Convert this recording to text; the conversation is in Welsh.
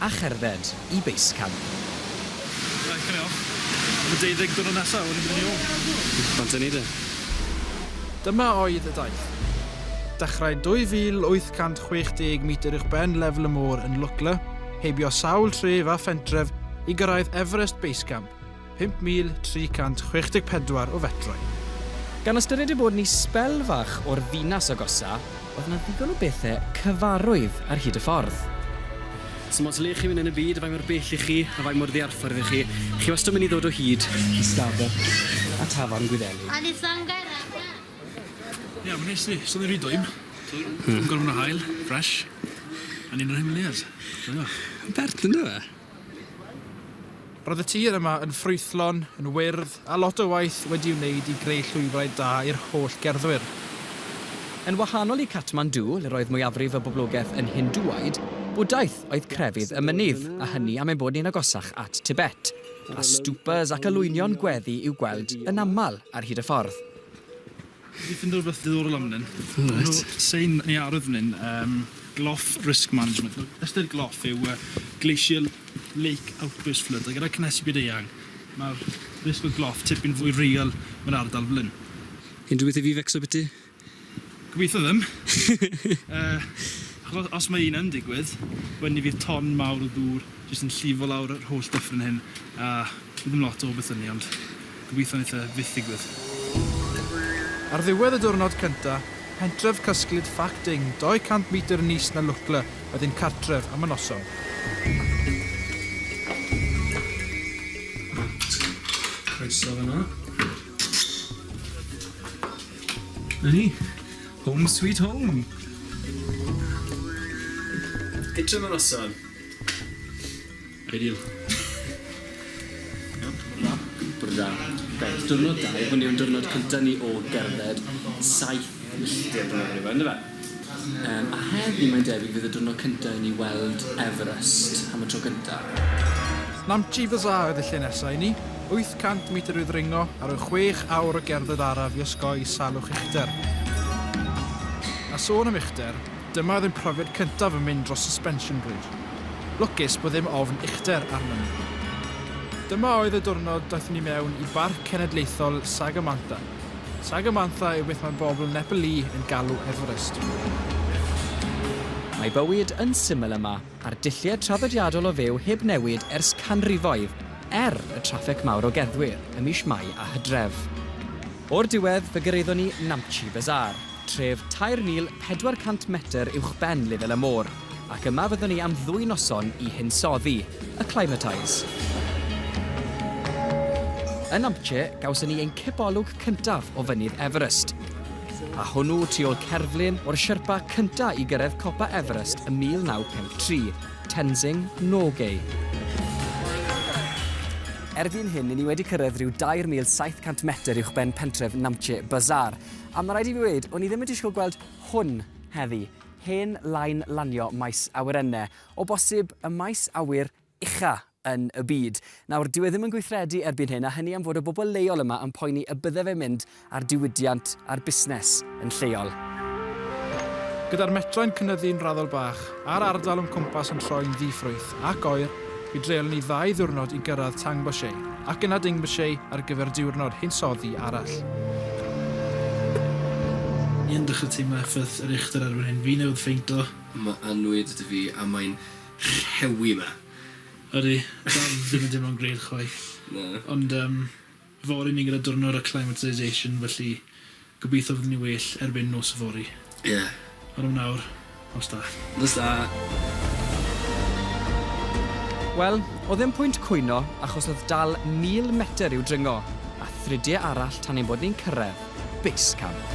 a cherdded i Base Camp. Reit, dyna fo. Am y deuddeg diwrnod nesa, wedyn byddwn ni ôl. Ond dyna ni de. Dyma oedd y daith. Dechrau 2,860 metr uwchben lefel y môr yn Lukla, heibio sawl tref a phentref i gyrraedd Everest Base Camp, 5,364 o fetrau. Gan ystyried ei bod yn isbel fach o'r ddinas agosa, oedd yna ddigon o bethau cyfarwydd ar hyd y ffordd. Sdim ots le chi'n mynd yn y byd, a faint mor bell i chi, a faint mor ddiarffordd i chi, chi wastad yn mynd i ddod o hyd i Starbucks a Tafarn Gwyddelig. Ie, mae'n neis yndi? Swn i'n rhy dwym. Dwym? Yn gormod o haul, fresh, a ni'n yr Himalayas. Joio. Bert yndyw e? Roedd y tir yma yn ffrwythlon, yn wyrdd, a lot o waith wedi'i wneud i greu llwybrau da i'r holl gerddwyr. Yn wahanol i Kathmandu, le roedd mwyafrif y boblogaeth yn Hindŵaid, Bwdhaeth oedd crefydd y mynydd, a hynny am ein bod ni'n agosach at Tibet, a stŵpas ac olwynion gweddi i'w gweld yn aml ar hyd y ffordd. Dwi 'di ffindo rwbeth diddorol am wn. O reit. Ma' 'na sign yn ei ardd fyn 'yn yym Gloff Risk Management. Wel ystyr gloff yw yy glacial lake outburst flood a gyda cynhesu byd eang ma'r risg o gloff tipyn fwy real mewn ardal fel 'yn. Unrhyw beth i fi fecso biti? Gobeithio ddim. Yy acho- os ma' un yn digwydd wedyn 'ny fydd ton mawr o ddŵr jyst yn llifo lawr yr holl dyffryn hyn a bydd dim lot o beth 'dy ni ond Gobeithio neith e fyth ddigwydd. Ar ddiwedd y diwrnod cynta, pentref cysglyd Fac Ding 200 metr yn is na Lwcle oedd ein cartref am y noson. Reit, croeso fan'na. 'Na ni, home sweet home! Hitio am y noson. Ideal. Iawn? Bore da. Bore da. Reit, diwrnod da yw hwn yw'n diwrnod cynta ni o gerdded saith milltir dwi'n meddwl yw e on'd yfe? Yym a heddi mae'n debyg fydd y diwrnod cynta i ni weld Everest am y tro cynta. Namche Bazaar ydi lle nesa i ni, 800 metr i ddringo ar y chwech awr o gerdded araf i osgoi salwch uchder. A sôn am uchder, Dyma oedd ein profiad cyntaf yn mynd dros suspension bridge. Lwcus bod ddim ofn uchder arnon ni. Dyma oedd y diwrnod daethon ni mewn i Barc Cenedlaethol Sagamantha. Sagamantha yw beth mae bobl Nepali yn galw Everest. Mae bywyd yn syml yma. a'r dulliau traddodiadol o fyw heb newid ers canrifoedd, er y traffig mawr o gerddwyr ym mis Mai a Hydref. O'r diwedd, fe gyrhaeddon ni Namche Bazaar, tref 3,400 metr uwchben lefel y môr, ac yma fyddwn ni am ddwy noson i hinsoddi, acclimatise. Yn Namche, gawson ni ein cibolwg cyntaf o Fynydd Everest. a hwnnw tu ôl cerflun o'r Sherpa cyntaf i gyrraedd copa Everest ym 1953, Tenzing Norgay. Erbyn hyn, i ni wedi cyrraedd rhyw 2,700 metr uwchben pentref Namche Bazaar. A mae rhaid i fi weud, o'n i ddim yn disgwyl gweld hwn heddi, hen lain lanio maes awyrennau, o bosib y maes awyr ucha yn y byd. Nawr, dyw e ddim yn gweithredu erbyn hyn, a hynny am fod y bobl leol yma yn poeni y bydde fe'n mynd ar diwydiant a'r busnes yn lleol. Gyda'r metrau'n cynyddu'n raddol bach, a'r ardal o'n cwmpas yn troi'n ddi-ffrwyth ac oer, mi dreulon ni ddau ddiwrnod i gyrraedd Tangboche, ac yna Dingboche ar gyfer diwrnod hinsoddi arall. Ydych chi'n teimlo effaith yr uchder erbyn hyn? Fi'n awydd ffeindio. Mae annwyd 'da fi a mae'n rhewi 'ma. Ydi, dal ddim yn teimlo'n grêt chwaith. Na. Ond yym fory ni gyda diwrnod acclimatisation felly gobeithio fyddwn ni'n well erbyn nos yfory. Ie. Ond am nawr, nos da. Nos da. Wel, o'dd ddim pwynt cwyno achos o'dd dal 1000 metr i'w dringo, a thridie arall tan ein bod ni'n cyrraedd base camp.